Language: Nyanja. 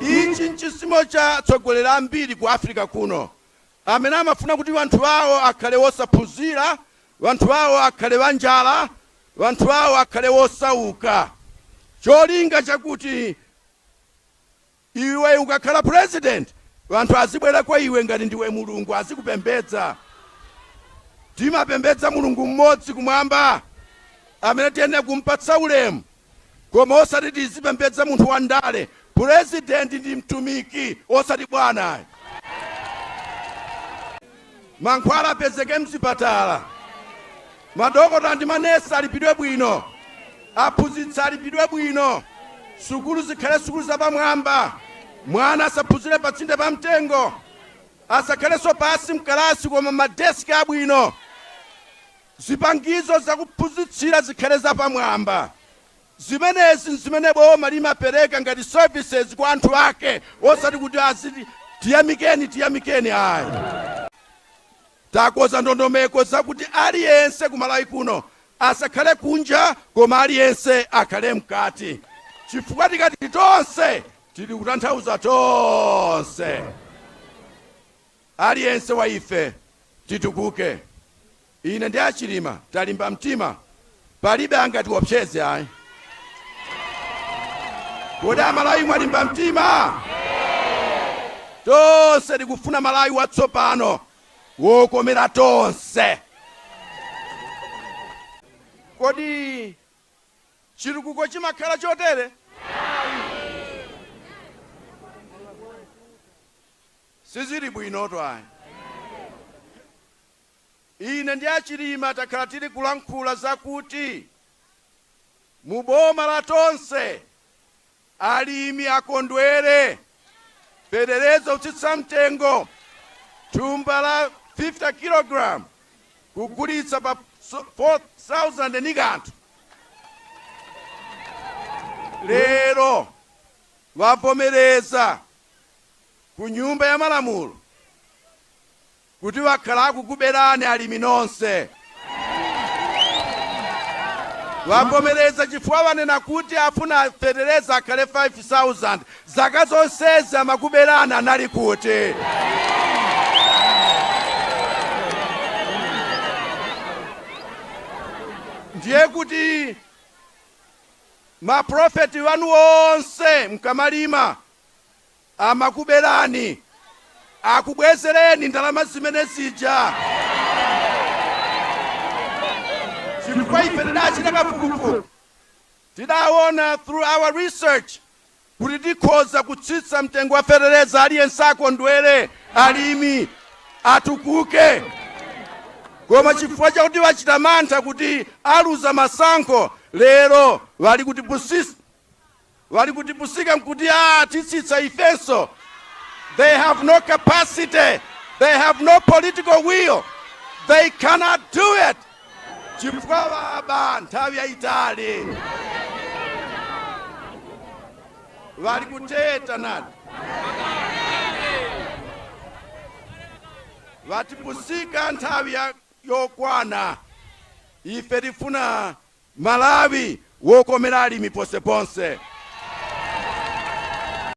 Ichi nchisimo cha atsogoleri ambiri ku Africa kuno amene amafuna kuti wanthu awo akhale wosaphunzira, wanthu awo akhale wanjala, wanthu awo akhale wosauka cholinga chakuti iwe ukakhala president wanthu azibwera kwa iwe ngati ndiwe Mulungu azikupembedza. Timapembedza Mulungu mmodzi kumwamba amene tiyenera kumpatsa ulemu. koma osati tizipembedza munthu wa ndale. President ndi mtumiki osati bwana ayi. Mankhwala apezeke mzipatala, madokota ndi manesi alipidwe bwino, aphunzitsi alipidwe bwino, sukulu zikhale sukulu zapamwamba, mwana asaphunzire patsinde pa mtengo, asakhalenso pansi mkalasi koma madeski abwino. Zipangizo zakuphunzitsira zikhale zapamwamba. Zimenezi n'zimene boma limapereka ngati services kwa anthu ake osati kuti aziti tiyamikeni tiyamikeni ayi. Takonza ndondomeko zakuti aliyense ku Malawi kuno asakhale kunja koma aliyense akhale mkati chifukwa tikati tonse tili kutanthauza tonse. Aliyense wa ife titukuke. Ine ndi a Chilima talimba mtima, palibe angatiopseze ayi. Kodi Amalawi mwalimba mtima? Tonse tikufuna Malawi watsopano wokomera tonse. Kodi chitukuko chimakhala chotere? Sizili bwinotu ayi. Ine ndi a Chilima takhala tili kulankhula za kuti mu boma la Tonse alimi akondwere, fetereza wotsitsa mtengo, thumba la 50 kg kugulitsa pa 4,000 ndi kanthu. Lero wavomereza ku nyumba ya malamulo kuti wakhala akukuberani alimi nonse. Wavomereza chifukwa wanena kuti afuna fetereza akhale 5,000. Zaka zonsezi amakuberani anali kuti? Ndiye kuti maprofeti wanu onse mkamalima Amakubelani, akubwezeleni ndalama zimene zija chifukwa ife tidachita kafukufuku tidawona through our research kuti tikhoza kutsitsa mtengo wa feteleza aliyense akondwele, alimi atukuke koma chifukwa chakuti wachita mantha kuti aluza masankho lero wali kutipusisa wali kutipusika nkuti aah titsitsa ifenso they have no capacity they have no political will they cannot do it chifukwa waba nthawi yayitali wali kuteta nati watipusika nthawi ya- yokwana ife tifuna Malawi wokomera alimi ponseponse.